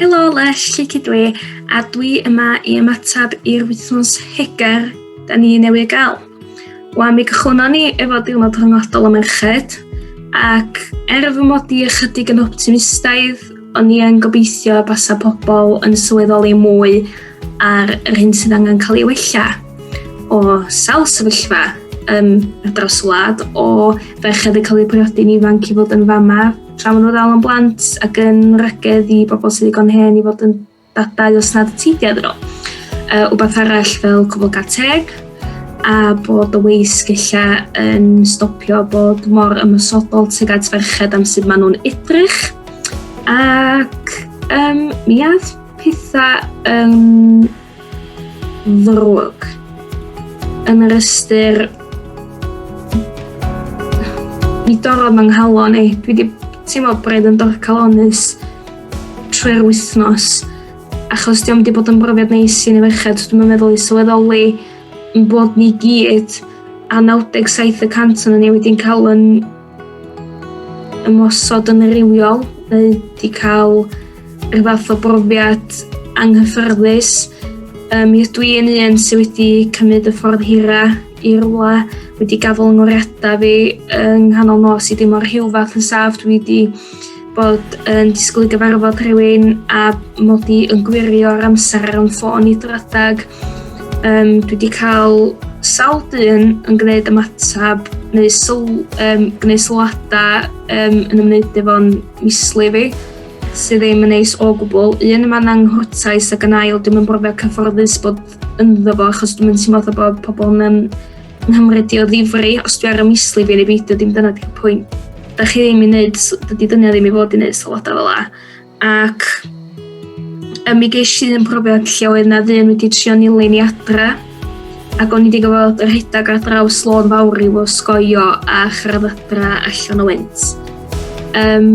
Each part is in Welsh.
Helo Les, lle cydw i, a dwi yma i ymateb i'r wythnos hegar da ni newydd gael. Wa, mi gychwynnon ni efo diwrnod rhyngwladol y merched, ac er fy mod i ychydig yn optimistaidd, o'n i yn gobeithio basa pobl yn sylweddoli mwy ar yr hyn sydd angen cael ei wella o sawl sefyllfa um, ar draws y wlad o ferched yn cael eu priodi'n ifanc i fod yn fama Tra maen nhw ddal yn blant ac yn wragedd i bobl sydd ddigon hen i fod yn dadau os nad y teidiau iddyn nhw. Uh, wbeth arall fel cwbl gael teg, a bod y weis gella yn stopio bod mor ymwysodol tuag at ferched am sut maen nhw'n edrych. Ac um, mi ath pethau um, ddrwg yn yr ystyr mi dorrodd fy nghalon i. Dwi wedi teimlo braidd yn dorcalonus trwy'r wythnos achos diolch wedi bod yn brofiad neis i ni feched. Dwi'n meddwl i sylweddoli yn bod ni gyd a 97 y cant o'n ni wedi'n cael yn ymosod yn rhywiol neu wedi cael rhyw fath o brofiad anghyffyrddus. Um, mi ydw i yn un sydd wedi cymryd y ffordd hira i rwla wedi gafel yng ngoriadau fi yng nghanol nos i ddim o'r rhyw fath yn saf. Dwi wedi bod yn disgwyl i gyfarfod rhywun a mod i yn gwirio'r amser ar ym ffôn i dradag. Um, dwi wedi cael sawl dyn yn gwneud ymateb neu syl, um, gwneud sylwadau um, yn ymwneud efo'n misli fi sydd ddim yn neis o gwbl. Un yma na'n nghwrtais ac yn ail dwi'n yn brofio cyfforddus bod ynddo fo achos dwi'n mynd teimlo bod pobl yn Nghymru di o ddifri, os dwi ar y misli fi yn ei beidio, dim dyna di'r pwynt. Da chi ddim i wneud, dydy dynia ddim i fod i wneud sylwadau fel la. Ac um, mi geis i yn profiad lle oedd na ddyn wedi trio nilyn i adra ac o'n i wedi gofod yr rhedeg ar draws lôn fawr i fo sgoio a chyrraedd adra allan o wynt. Um,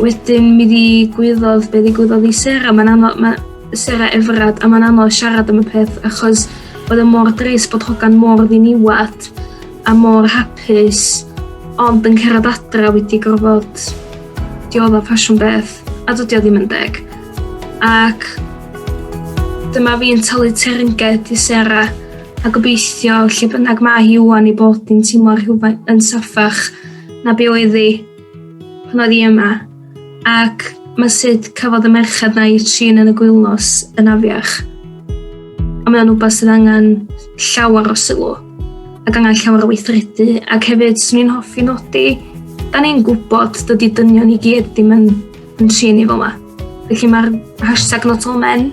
wedyn mi ddigwyddodd be ddigwyddodd i Sarah, mae'n anodd, ma, Sarah Everard a mae'n anodd siarad am y peth achos oedd e mor dris bod hogan mor ddiniwad a mor hapus ond yn cerad adra wedi gorfod diodda ffasiwn beth a dydy o ddim yn deg ac dyma fi'n talu teyrnged i Sarah a gobeithio lle bynnag mae hi wwan i bod yn teimlo rhywfaint yn saffach na be oedd hi pan oedd hi yma, ac mae sut cafodd y merched na i trin yn y gwylnos yn afiach. Ond mae'n rhywbeth sydd angen llawer o sylw ac angen llawer o weithredu. Ac hefyd, swn i'n hoffi nodi, da ni'n gwybod dydy dynion i gyd ddim yn, yn trin i fel yma. Felly mae'r hashtag not all men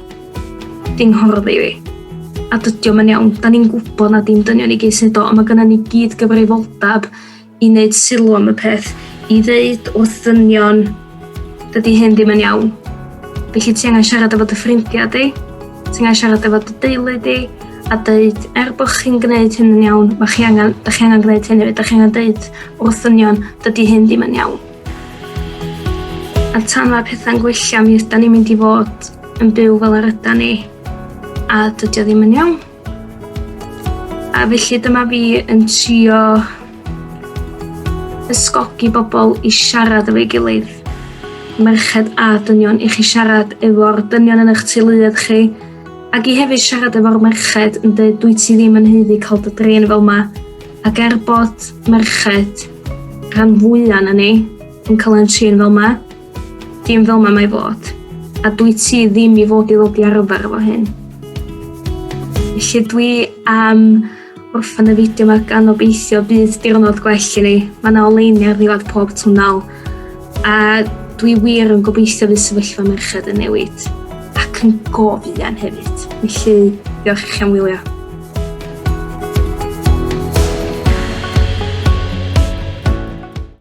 di'n hordd i fi. A dydy o'n iawn, da ni'n gwybod na dim dynion i gyd sy'n do, ond mae gennym ni gyd gyfrifoldeb i wneud sylw am y peth, i ddeud wrth ddynion dydy hyn ddim yn iawn. Felly ti angen siarad efo dy ffrindiau di, ti angen siarad efo dy deulu di, a dweud, er bod chi'n gwneud hyn yn iawn, mae chi angen, da chi angen gwneud hyn hefyd, da chi angen dweud wrth ddynion, dydy hyn ddim yn iawn. A tan mae pethau'n gwella, mi ydan ni'n mynd i fod yn byw fel yr ydan ni, a dydy o ddim yn iawn. A felly dyma fi yn trio ysgogi bobl i siarad efo'i gilydd. Merched a dynion i chi siarad efo'r dynion yn eich teuluoedd chi ac i hefyd siarad efo'r merched yn dweud dwi ti ddim yn heiddi cael dy drin fel yma ac er bod merched rhan fwya' na ni yn cael ein trin fel yma Dim fel mae mae fod. A dwi ti ddim i fod i ddod i arfer efo hyn. Felly dwi am orffan y fideo yma gan obeithio bydd diwrnod gwell i ni. Mae yna oleini ar ddiwedd pob twnnel. A dwi wir yn gobeithio fydd sefyllfa merched yn newid. Ac yn gofian hefyd. Felly, diolch i chi am wylio.